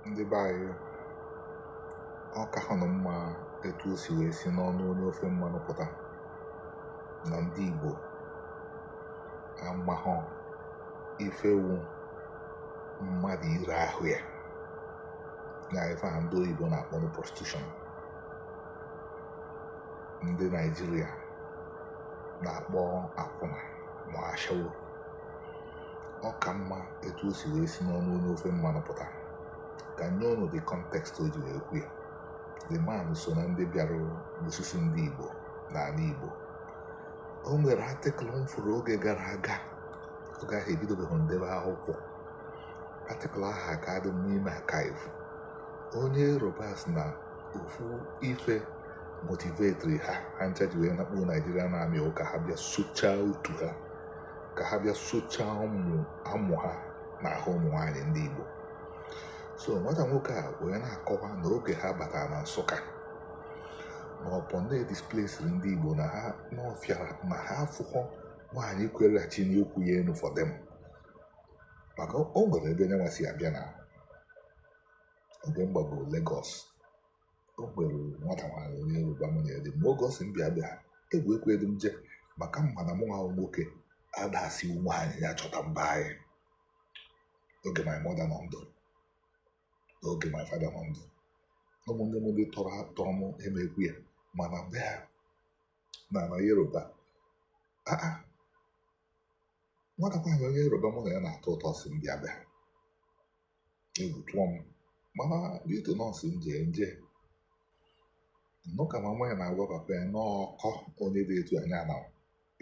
ndị be anyị ọ ka ha nọ mma etu o si wee si n'ọnụ onye ofe mmanụ pụta na ndị Igbo amahọ ife wụ mmadụ ire ahụ ya na ife a ndị oyibo na-akpọ na prostitution ndị Naịjirịa na-akpọ akwụna ma ashawo ọ ka mma etu o si wee si n'ọnụ onye ofe mmanụ pụta ka m nye ụnụ the context o ji wee kwu ya the man so na ndị bịara n'osisi ndị Igbo n'ala Igbo o nwere article m fụrụ oge gara aga oge ahụ ebidobeghị ndebe akwụkwọ article ahụ aka dị n'ime archive onye Yoruba sị na ofu ife motivetri ha ha ncha ji wee nakpuo Nigerian army wụ ka ha bịa sụchaa utu ha ka ha bịa sụchaa amụ ha n'ahụ ụmụ nwaanyị ndị Igbo so nwata nwoke a wee na-akọwa na oge ha batara na Nsụka na upon na e displesiri ndị Igbo na ha n'ọfịara na ha afụhọ nwaanyị kwere ha chịnie ụkwụ ya enu for them maka o nwere ebe nyanwa si abịa na oge m gbago Lagos o nwere nwata nwaanyị onye yoruba mụ na ya dị mma oge ọ sị m bịa be ha egwu ekwedị m je maka m ma na mụ nwa bụ nwoke ada asị nwaanyị ya chọta m be anyị oge my mother nọ ndụ n'oge my father nọ ndụ ụmụnne m ndị tọrọ atọ m emekwu ya mana be ha na na yoruba aa nwata nwaanyị onye yoruba mụ na ya na-atọ ụtọ sị m bịa be ha egwu tụọ m mana due to na ọ sị m je m je m nụ ka mama ya na-agwa papa ya na ọkọ onye dị etu anya na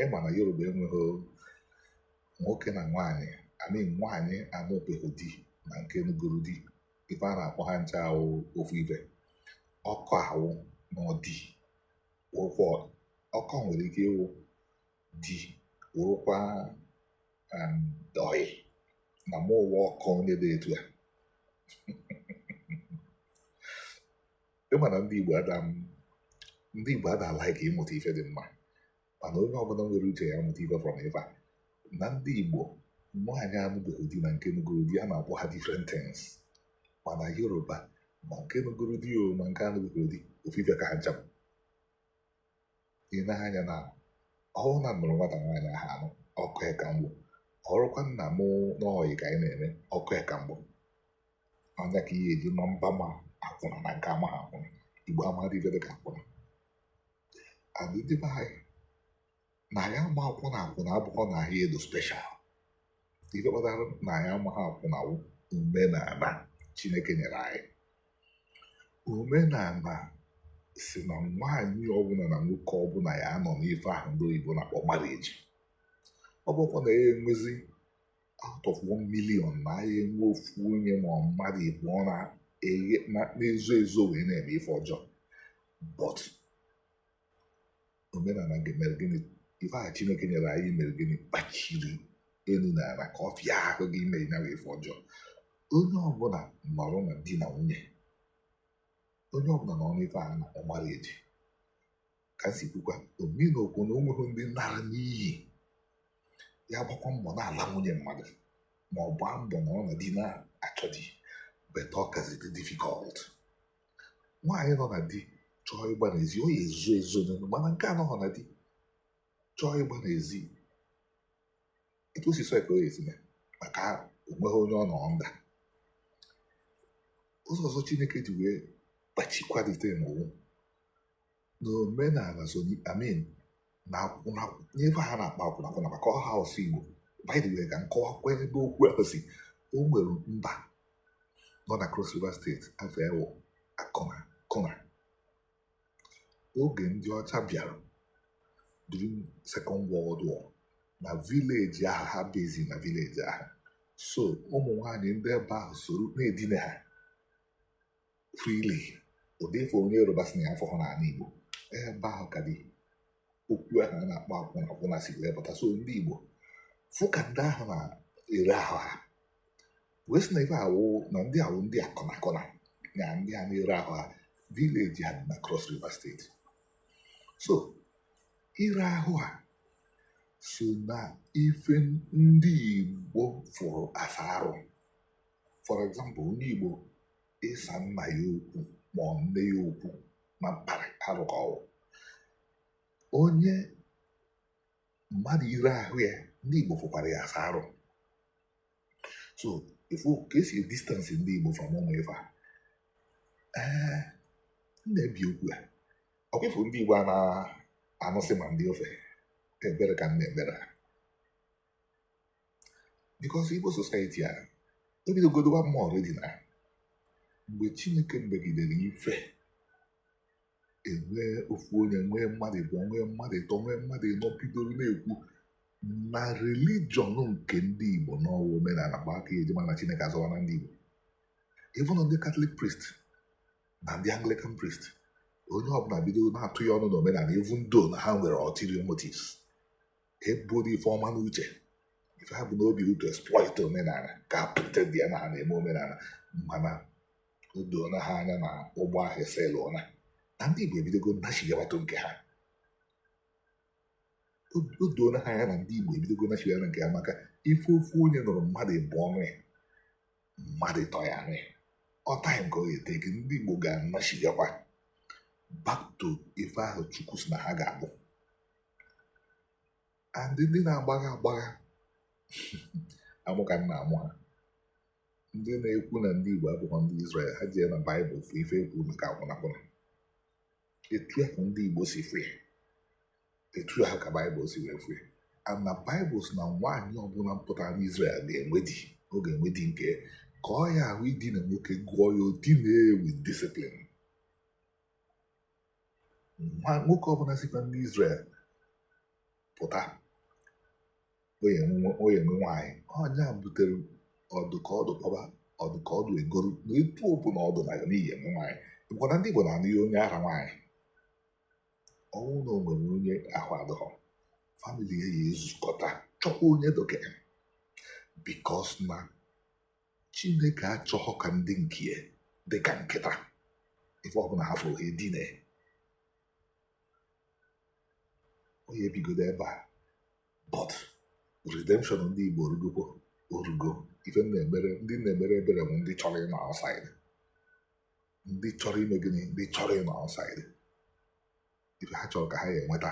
ị ma na yoruba enweghị nwoke na nwaanyị I mean nwaanyị anụbeghị di na nke nụgoro di ife a na-akpọ ha ncha wụ ofu ife ọkọ ahụ na ọdi ụkwụ ọkọ nwere ike ịwụ di wụrụkwa ọyị na mụ wụ ọkọ onye dị etu a ị ma na ndị Igbo ada ndị Igbo ada alike ịmụta ife dị mma mana onye ọbụla nwere uche ya mụta ife from ife a na ndị Igbo nwaanyị anụbeghị di na nke nụgoro di a na-akpọ ha different things mana Yoruba ma nke nụgoro di o ma nke anụbeghị di ofu ife ka ha ncha bụ ị na-anya na ọ wụ na m nụrụ nwata nwaanyị ahụ anụ ọkọ ya ka m bụ ọrụkwa na mụ na ọ ọyị ka anyị na-eme ọkọ ya ka m bụ ọ nya ka ihe e ji ma mba ma akwụna na nke amaghị akwụna igbo amadị ife dị ka akwụna adịdị be anyị na anyị ama akwụna akwụna abụghọ na anyị dị special ife kpatara na anyị amaghị akwụna wụ omenala chineke nyere anyị omenala sị na nwaanyị ọbụla na nwoke ọbụla ya anọ n'ife ahụ ndị oyibo na-akpọ marriage ọ bụkwa na ya enwezi out of 1 million na anyị enwe ofu onye ma ọ mmadụ ịbụọ na eghe- na- na-ezo ezo wee na-eme ife ọjọọ but omenala nke mere gịnị ife ahụ chineke nyere anyị mere gịnị kpachiri elu na ala ka ọ fịa ahụ gị ime ya ife ọjọọ onye ọbụla nọrọ na di na nwunye onye ọbụla nọ n'ife a na-akpọ marriage ka m si kwukwa obi na okwu na onweghị ndị nara n'iyi ya gbakwa mbọ na-ala nwunye mmadụ ma ọ gbaa mbọ nọ na di na-achọ di but ọ kazị dị difficult nwaanyị nọ na di chọọ ịgba n'ezi ọ ya-ezo ezo n'elu mana nke a nọghọ na di chọọ ịgba n'ezi etu o si sọ ya ka ọ ya-esi mee maka onweghị onye ọ nọ under ụzọ ọzọ chineke ji wee kpachikwalite n'ụwa na omenala so I mean na akwụna n'ife ha na-akpọ akwụna akwụna maka ọhọ asụsụ igbo by the way ka m kọwakwa ebe okwu ahụ si o nwere mba nọ na Cross River state afa ya wụ akụna kụna oge ndị ọcha bịara during second world war na village ahụ ha base na village ahụ so ụmụ nwanyị ndị ebe ahụ soro na-edina ha freely ụdị ife onye yoruba sị na ya afụhọ n'ala igbo ebe ahụ ka ụdị okwu ahụ a na-akpọ akwụna akwụna si wee pụta so ndị igbo fụ ka ndị ahụ na-ere ahụ ha wee sị na ife a wụ na ndị a wụ ndị akụna akụna na ndị a na-ere ahụ ha village ha dị na cross river state so ire ahụ ha so na ife ndị igbo fụrụ as arụ for example onye igbo ịsa nna ya okwu ma ọ nne ya okwu na mkparị arụ ka ọ wụ onye mmadụ ire ahụ ya ndị Igbo fụkwara ya as arụ so ị fụ ka e si distance ndị Igbo from ụmụ ife a ee na-ebi okwu a ọkwa ị fụ ndị Igbo a na-anụsị ma ndị ofe ebere ka m na-ebere ha because Igbo society a ebidogo dịwa mma already na mgbe Chineke megidere ife enwee ofu onye nwee mmadụ ịbụọ nwee mmadụ ịtọ nwee mmadụ ịnọ bidoro na-ekwu na religion nke ndị Igbo na ọ wụ omenala bụ aka e ji ma na Chineke azọwana ndị Igbo even ndị Catholic priest na ndị Anglican priest onye ọbụla bido na-atụ ya ọnụ na omenala even though na ha nwere ulterior motives eburo ife ọma n'uche ife ha bu n'obi wụ to exploit omenala ka a pretendịa na ha na-eme omenala mana o doona ha anya na ụgbọ ahụ esailụọla na ndị Igbo ebidogo nachigabatụ nke ha o doona ha anya na ndị Igbo ebidogo nachigara nke ha maka ife ofu onye nụrụ mmadụ ịbụọ anụ ya mmadụ ịtọ ya anụ ya ọ time ka ọ ga-etake ndị Igbo ga-anachigakwa back to ife ahụ Chukwu si na ha ga-abụ and ndị na-agbagha agbagha amụ ka nna amụ ha ndị na-ekwu na ndị Igbo abụghị ndị Izrel ha jee na Baịbụl fụ ife ekwu maka akwụnakwụna etu ahụ ndị Igbo si fụ ya etu ahụ ka Baịbụl si wee fụ ya and na Baịbụl si na nwaanyị ọbụla pụtara n'Izrel ga-enwe di ọ ga-enwe di nke ka ọ ya-awụ idina nwoke gụọ ya o dina with discipline ma nwoke ọbụla sikwa ndị Izrel pụta ọ ya-enwe nwaanyị ọ nya butere ọ dụ ka ọ dụ kpọba ọ dụ ka ọ dụ egoro na etu ọbụla ọ dụ na na ị ya-enwe nwaanyị gwara ndị Igbo na-anụnye onye ara nwaanyị ọ wụ na o nwere onye ahụ adọghọ family ya ya-ezukọta chọkwa onye dụ ka ya because na Chineke achọghị ka ndị nke ya dị ka nkịta ife ọbụla ha fụrụ ha edina ọ ya-ebigodo ebe a but redemption ndị Igbo orugokwa orugo ife ndị m na-emere ebere bụ ndị chọrọ ịnọ outside ndị chọrọ ime gịnị ndị chọrọ ịnọ outside ife ha chọrọ ka ha ya-enweta